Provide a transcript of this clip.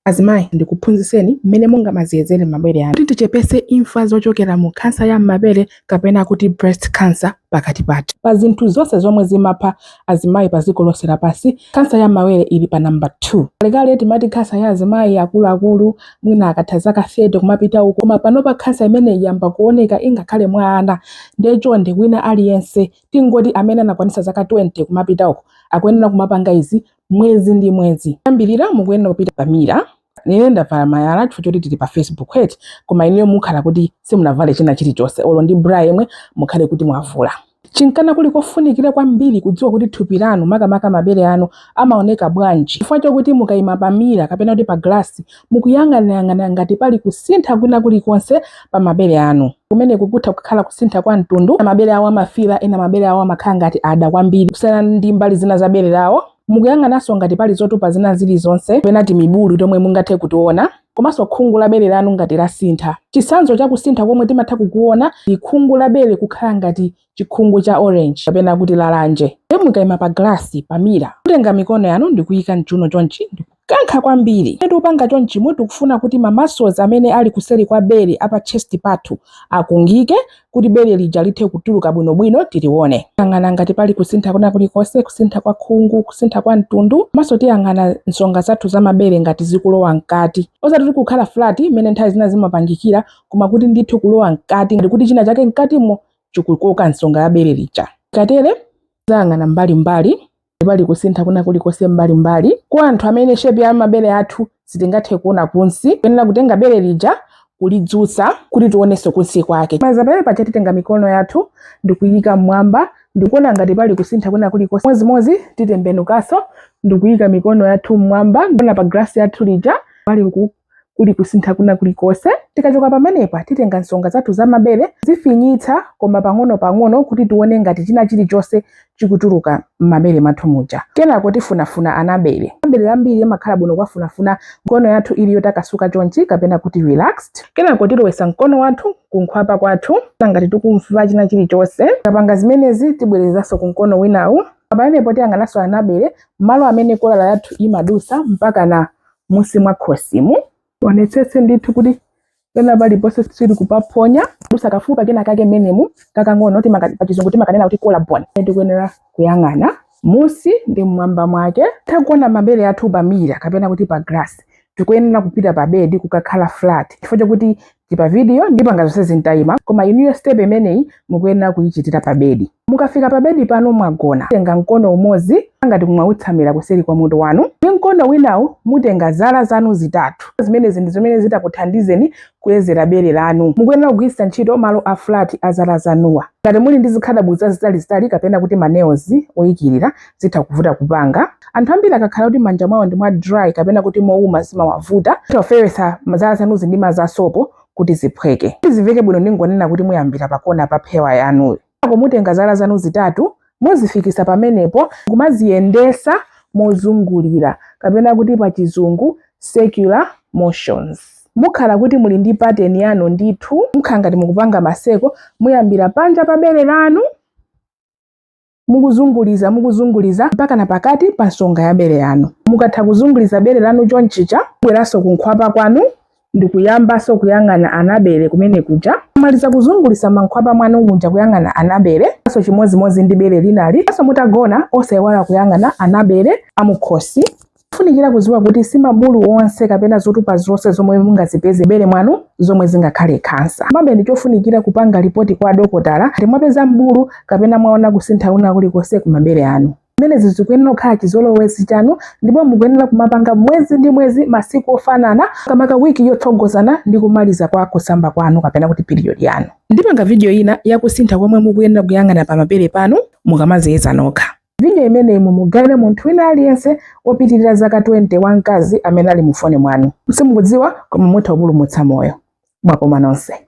Azimayi, ndikuphunzitseni mmene mungamadziyezere mabere anu kuti tichepetse imfa zochokera mu khansa ya m'mabere kapena kuti breast cancer pakati pathu. Pa zinthu zonse zomwe zimapha azimayi pa dziko lonse lapansi, khansa ya m'mawere ili pa number 2. Kalekale timati khansa ya azimayi akuluakulu, mwina akatha zaka 30 kumapita uko, koma panopa khansa imeneyi yamba kuoneka ingakhale mwa ana. Nde chonde wina aliyense, tingoti amene anakwanitsa zaka 20 kumapita uko, akuyenera kumapanga izi mwezi ndi mwezi Poyambirira mukuyenera kupita pa mira ineyo ndavala malaya chifukwa choti tili pa facebook eti koma inuyo mukhala kuti simunavale china chilichonse olo ndi bra yemwe mukhale kuti mwavula n'chifukwa kuli kofunikira kwambiri kudziwa kuti thupi lanu makamaka mabere anu amaoneka bwanji chifukwa chokuti mukayima pamira kapena kuti pa glasi mukuyang'anayang'ana ngati pali kusintha kwina kulikonse pa mabere anu. Kumeneku kutha kukhala kusintha kwa mtundu, mabere awo amafiira, ena mabere awo amakhala ngati ada kwambiri kusiyana ndi mbali zina za bere lawo. Mukuyang'ananso ngati pali zotupa zina zilizonse kapena timibulu tomwe mungathe kutiona komanso khungu la bere lanu ngati lasintha. Chitsanzo cha kusintha komwe timatha kukuona ndi khungu la bere kukhala ngati chikhungu cha orange kapena kuti lalanje ndiye mukaima pa glass pa mira mutenga mikono yanu ndikuyika mchuno chonchi ndikukankha kwambiri ndiye tikupanga chonchimo tikufuna kuti ma muscles amene ali kuseri kwa bere apa chest pathu akungike kuti bere lija lithe kutuluka bwinobwino tilione yang'ana ngati pali kusintha kwina kulikonse kusintha kwa khungu kusintha kwa mtundu komanso tiyang'ana nsonga zathu za mabere ngati zikulowa mkati osati kuti kukhala flat mmene nthawi zina zimapangikira koma kuti ndithu kulowa mkati ngati kuti china chake mkatimo chikukoka nsonga ya bere lija. Tikatere tizayang'ana mbalimbali pali kusintha kwina kulikonse mbalimbali kwa anthu amene shepi ya mabere athu sitingathe kuona kunsi kuyenera kutenga bere lija kulidzutsa kuti tionenso kunsi kwake. Tikamaliza pamenepaja titenga mikono yathu ndikuyika mmwamba ndikuona ngati pali kusintha kwina kulikonse. Modzimodzi titembenukanso ndikuyika mikono yathu mmwamba ndikuona pa glasi yathu ija pali Kuli kusintha kwina kulikonse? Tikachoka pamenepa, titenga nsonga zathu za mabere, kuzifinyitsa koma pang'onopang'ono kuti tione ngati china chilichonse chikutuluka m'mabere mwathu muja. Kenako tifunafuna anabere. Anabere ambiri amakhala bwino kuwafunafuna mkono yathu ili yotakasuka chonchi kapena kuti relaxed. Kenako tilowetsa mkono wathu kunkhwapa kwathu kuona ngati tikumva china chilichonse. Tikapanga zimenezi, tibwerezanso ku mkono winawu. Pamenepo tiyang'ananso anabere, malo amene kolala yathu imadutsa mpakana munsi mwa khosimu tionetsetse ndithu kuti pena paliponse sitikupaphonya kudusa kafupa kenakake mmenemu kakang'ono timaka- pa chizungu timakanena kuti collarbone tikuyenera kuyang'ana munsi ndi mmwamba mwake tatha kuona mabere athu pamira kapena kuti pa glass tikuyenera kupita pa bedi kukakhala flat chifukwa chakuti ti pa video ndipanga zonsezi nditaima koma inuyo step imeneyi mukuyenera kuyichitira pa bedi mukafika pa bedi panu mwagona tenga mkono umodzi ngati kumawutsamira kuseri kwa mutu wanu ndi mkono winawu mutenga zala zanu zitatu zimenezi ndi zimene zitakuthandizeni kuyezera bere lanu mukuyenera kugwiritsa ntchito malo a flat a zala zanuwa ngati muli ndi zikhadabo zazitalizitali kapena kuti ma nails oyikirira zitha kuvuta kupanga. Anthu ambiri akakhala kuti manja mwawo ndi mwa dry kapena kuti mouma zimawavuta tofewetsa zala zanuzi ndi madzi asopo kuti ziphweke. Kuti zimveke bwino ndingonena kuti muyambira pa kona pa phewa yanuyo. Mutenga zala zanu zitatu muzifikisa pamenepo kumaziyendesa mozungulira kapena kuti pa chizungu circular motions mukhala kuti muli ndi pattern yanu ndithu mukhala ngati mukupanga ma circle muyambira panja pa bere lanu mukuzunguliza mukuzunguliza mpaka na pakati pa nsonga ya bere yanu. Mukatha kuzunguliza bere lanu chonchicha, bweranso kunkhwapa kwanu ndikuyambanso kuyang'ana anabere kumene kuja maliza kuzunguliza mankhwapa mwanu muja kuyang'ana anabere. Nso chimodzimodzi ndi bere linali nso mutagona osaiwala kuyang'ana anabere amukhosi Funikira kuziwa kuti si mabulu onse kapena zotupa zonse zomwe mungazipeze m'bere mwanu zomwe zingakhale khansa. Komabe ndi chofunikira kupanga lipoti kwa adokotala ngati mwapeza mbulu kapena mwaona kusintha kwina kulikonse ku mabere anu. Zimenezi zikuyenera kukhala chizolowezi chanu ndipo mukuyenera kumapanga mwezi ndi mwezi masiku ofanana makamaka wiki yotsogozana ndi kumaliza kwa kusamba kwanu kapena kuti period yanu. Ndipanga video ina yakusintha komwe mukuyenera kuyang'ana pa mabere panu mukamaziyeza nokha. Video imeneyi mumugawire munthu wina aliyense wopitirira zaka 20 wamkazi amene ali mufoni mwanu. Simukudziwa koma mutha kupulumutsa moyo. Mwakoma nonse.